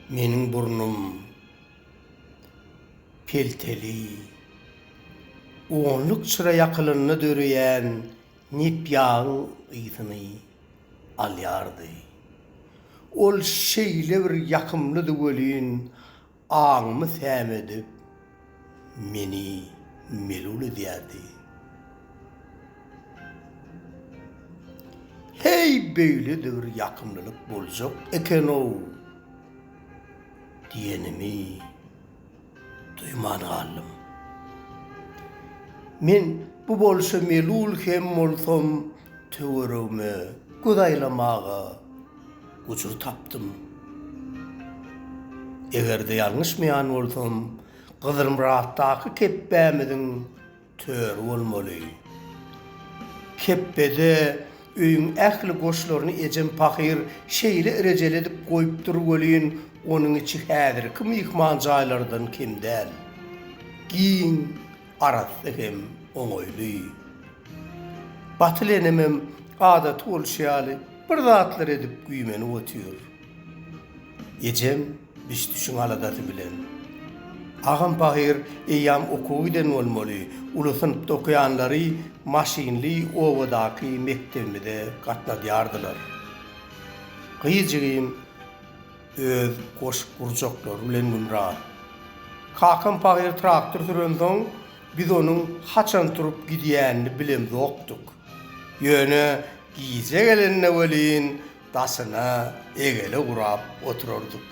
Meniň burnum pelteli. Onluk çyra ýakylanda döreýän nep-ýagyň ysyny alýardy. Ol şeýle bir ýakymlydy welin, aňymy sämedip, meni melul edýärdi. Heý, beýle-de bir ýakymlylyk boljak eken-ow! diýenimi. duýman galdym. Men bu bolşa melul hem bolsam, töweregime göz aýlamaga gujur tapdym. Eger-de ýalňyşmaýan bolsam, Gyzylmyratdaky kepbämiziň Tör bolmaly. Kepbede öýüň ähli goşlaryny ejem pahyr şeýle irejeli edip goýupdyr welin, onuň içi häzirki myhman jaýlardan kem däl. Giň, arassa hem oňaýly. Batyl enemem adaty bolşy ýaly bir zatlar edip güýmenip otyr. Ejem biş-düşüň aladasy bilen. Agam pahyr eýýäm okuwa giden bolmaly, uly synpda okaýanlary maşynly obadaky mekdebimize gatnadýardylar. Gyzjygym öz goşup gurjaklary bilen gümra. Kakam pahyr traktor sürensoň, biz onuň haçan turup gidýänini bilemzokdyk. Ýöne gije gelende welin, Daşyna egele gurap oturardyk.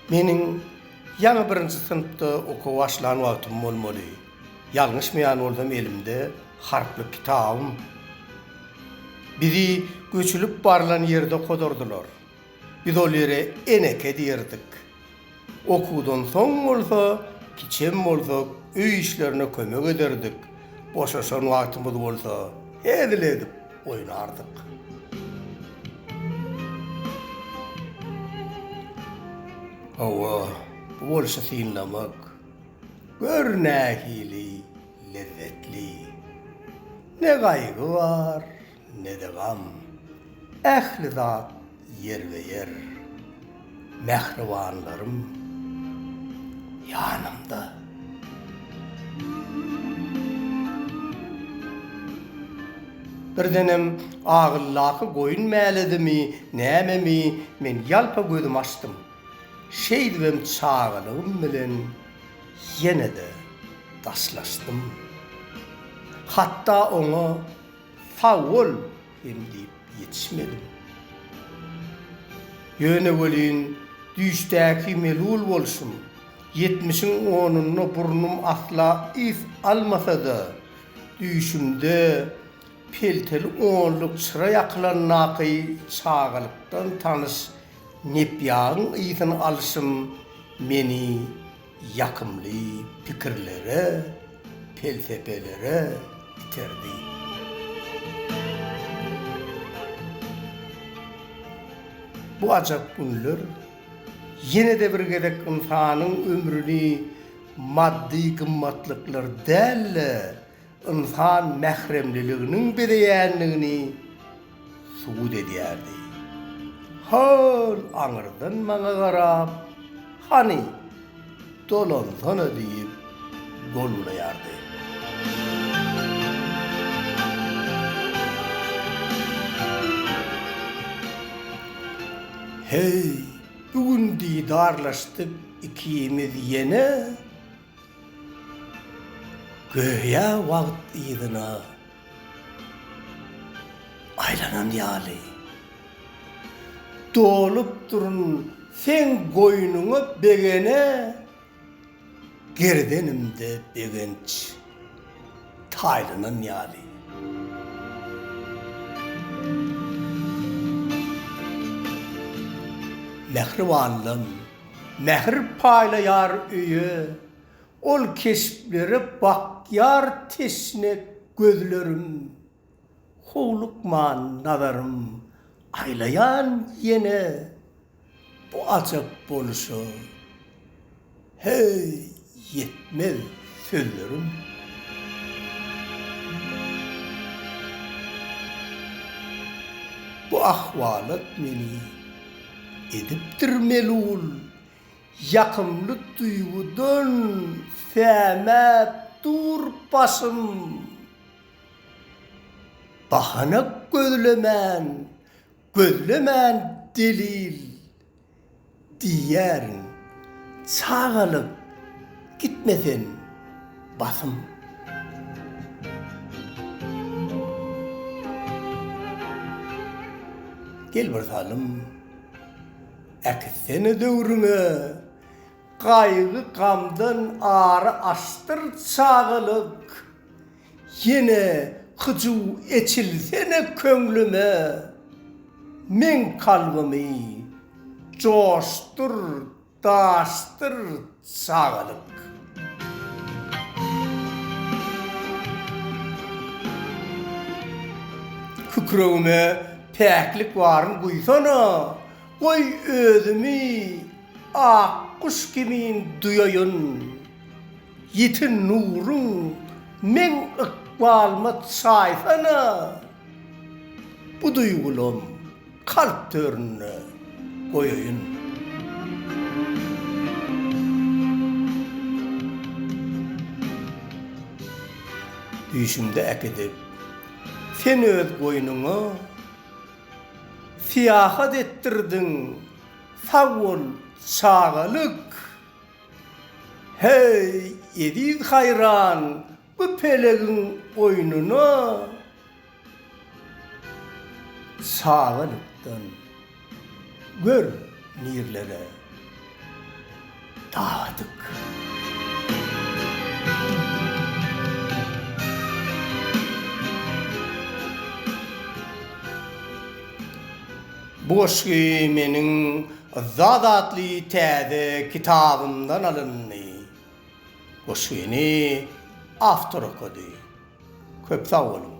Meniň ýaňy birinji synpda okuwa başlan wagtym bolmaly. Ýalňyşmaýan bolsam elimde harply kitabym. Bizi göçülip barlan ýerde godardylar. Biz ol ýere Eneke diýerdik. Okuwdan soň bolsa, kiçem bolsak, öý işlerine kömek ederdik. Boşaşan wagtymyz bolsa, hezil edip oýnardyk. Hawa, bu bolşy synlamak, gör nähili lezzetli! Ne gaýgy bar, Ne-de gam, ähli zat ýerbe-ýer. Mähribanlarym ýanymda. Birdenem agyldaky goýun mäledimi, nämemi, men ýalpa gözümi açdym. Şeýdibem çagalygym bilen ýene-de daşlaşdym. Hatda oňa Sag bol! hem diýip ýetişmedim. Ýöne welin, düýşdäki melul bolşum, ýetmişiň onunda burnum asla ys almasa-da, düýşümde pelteli onluk çyra ýakylandaky çagalykdan tanyş nepýagyň ysyny alşym meni Ýakymly pikirlere, pelsepelere iterdi. Bu ajap günler ýene-de bir gezek ynsanyň ömrüni maddy gymmatlyklar däl-de, ynsan mähremliliginiň bezeýändigini subut edýärdi. Hol aňyrdan maňa garap, Hany, dolansana diýip gol bulaýardy. Heý, bu gün didarlaşdyk ikimiz ýene. Göýä wagt yzyna aýlanan ýaly, dolup durun seň goýnuňa begene gerdenimde begenç taýlanan ýaly. Mähribanlam! Mähir paýlaýar öýe, ol keşplere bakýar teşne gözlerim. Howlukman nazarym aýlaýan ýene bu ajap boluşa. Heý, Ýetmez sözlerim. Bu ahwalat meni edipdir melul, Ýakymly duýgudan sämäp dur başym. Bahana gözlemän, gözlemän delil. Diýýärin, çagalyk gitme sen, basym. Gel bir salym, äkitsene döwrüňe, Gaýgy-gamdan ary açdyr çagalyk. Ýene hyjuw eçilsene köňlüme, Meň kalbymy joşdur, daşdyr çagalyk. Kükregime päklik baryn guýsana, Goý özümi ak guş kimin duýaýyn. Ýiten nuruň meň ykbalyma çaýsana, Bu duýgulam kalp töründe goýaýyn. Düýşümde äkidip sen öz goýnuňa, Syýahat etdirdiň, sag bol çagalyk! Heý, eziz haýran bu pelegiň oýnuna Çagalykdan gör nirlere dagadyk. Bu goşgy meniň Yzzat atly täze kitabymdan alyndy. Goşgyny awtor okady. Köp sag boluň.